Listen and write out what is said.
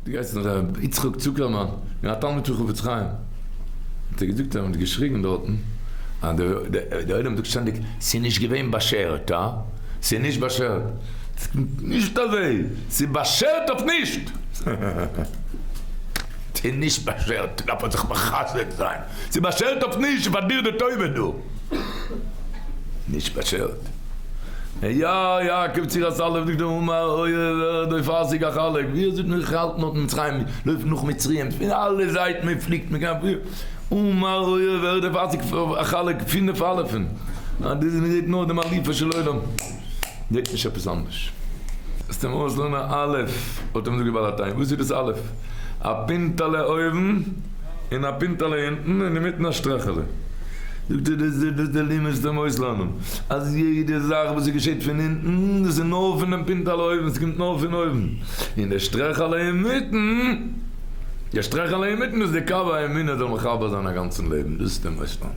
האט געהייסן ר' יצחק צוקערמאן און א תלמיד פון חפץ חיים האט ער געזאגט אז מען האט געשריגן דארטן אז די עולם זאגט שטענדיג ס'איז נישט געווען באשערט אה ס'איז נישט באשערט נישט אזוי ס'איז באשערט אויף נישט ס'איז נישט באשערט דארף מען זיך מחזק זיין. ס'איז באשערט אויף נישט פאר דיר די טובה דא. נישט באשערט. היה יעקב ציר הסלב דגדו הומה אויער ערד אויף פאסיג א חלק ווי ער זאגט מיר כ'האלט נאך מצרים לויפן נאך מצרים פון אלע זייטן מען פליקט מען קען פיר הומה אויער ערד אויף פאסיג א חלק פֿינף אלפים אז דאס איז מיר זעהט נאר דעם אליפו של עולם. זאגט נישט עפעס אנדערש. עס טאר מען אויסלערנען א אלף האט ער מיר זאגט ביי לאטיין וואס איז דאס אלף? א פינטעלע אויבן און א פינטעלע אונטן און אינמיטן א שטרעכעלע. זאגט ער דאס איז וואס די לימוס טאר מיר אויסלערנען אז יעדע זאך וואס עס געשעט פון אונטן דאס איז נאר פונעם פינטעלע אויבן עס קומט נאר פון אויבן און די שטרעכעלע אינמיטן די שטרעכעלע אינמיטן דאס איז די קו האמונה זאל מחבר זיין א גאנצן לעבן דאס טאר מען אויסלערנען.